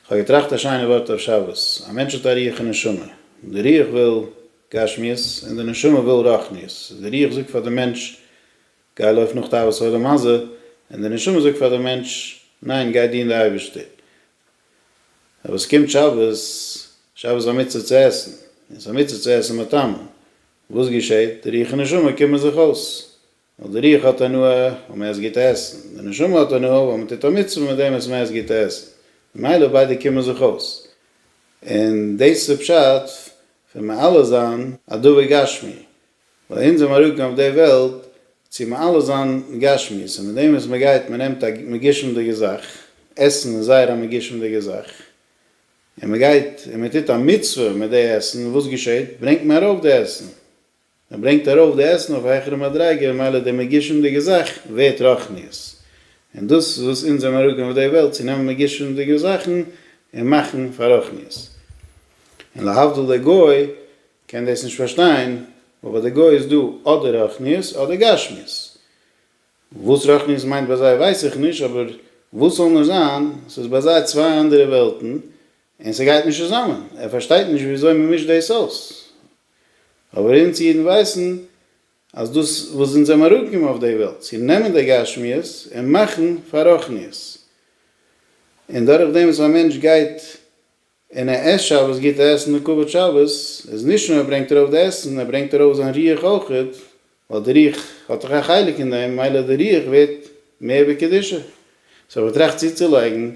כ'האב געטראכט א שיינע ווארט אויף שבת, א מענטש האט א רוח און נשמה, די רוח וויל גשמיות און די נשמה וויל רוחניות, די רוח זאגט פאר די מענטש גיי לויף נאך תאוות העולם הזה, און די נשמה זאגט פאר די מענטש ניין גיי דין די אייבערשטער. אבער עס קומט שבת, שבת איז א מצוה צו עסן, און עס איז א מצוה צו עסן מיט טעם, וואס געשעהט? די רוח און נשמה קומען זיך אויס, ווייל די רוח האט הנאה ווייל מען עסט גוט עסן, די נשמה האט הנאה ווייל מען טוט א מצוה מיט דעם וואס מען עסט גוט עסן, ממילא ביידע קומען זיך אויס, און דאס איז די פשט פון מעלה זיין א דבר גשמי, ווייל אונז זעמער אנגעקומען אויף די וועלט צו מעלה זיין גשמיות, און מיט דעם וואס מען גייט, מען נעמט א מגושם'דיגע זאך, עסן איז זייער א מגושם'דיגע זאך, און מען גייט און מען טוט א מצוה מיט די עסן, וואס געשעט? ברענגט מען ארויף די עסן. מען ברענגט ארויף די עסן אויף א העכערע מדריגה ממילא די מגישומ'דיגע זאך ווערט רוחניות, און דאס איז וואס אונז זעמער אראפגעגאנגען אויף די וועלט צו נעמען מגישומ'דיגע זאכן און מאכן פאר רוחניות, און להבדיל דער גוי קען דאס נישט פארשטיין, ווייל ביי די גוי איז דא אדער רוחניות אדער גשמיות, וואס רוחניות מיינט ביי זיי ווייס איך נישט, אבער וואס זאל נאר זיין, ס'איז ביי זיי צוויי אנדערע וועלטן און ס'גייט נישט צוזאמען, ער פארשטייט נישט ווי אזוי מען מישט דאס אויס, אבער אונז אידן ווייסן אז דאס וואס אונז זעמער אנגעקומען אויף די וועלט צו נעמען די גשמיות און מאכן פאר רוחניות, און דורך דעם וואס א מענטש גייט און ער עסט שבת גוטע עסן און כבוד שבת, איז נישט נאר ער ברענגט ארויף די עסן, ער ברענגט ארויף זיין רוח אויך, ווייל די רוח האט דאך א חלק אין דעם, ממילא די רוח ווערט מער בקדושה, סאו ער טראכט צוצולייגן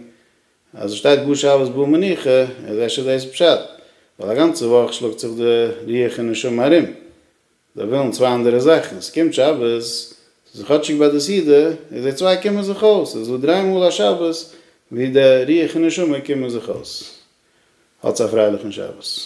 אז עס שטייט גאר שבת בא מנוחה איז אפשר דאס פשט, ווייל א גאנצע וואך שלאגט זיך די רוח און נשמה ארום, זיי ווילן צוויי אנדערע זאכן, עס קומט שבת, ס'איז כאטשיג ביי די סעודה, און זיי צוויי קומען זיך אויס, ס'איז דא דריי מאל א שבת וואו די רוח און נשמה קומען זיך אויס. האטס א פרייליכן שבת.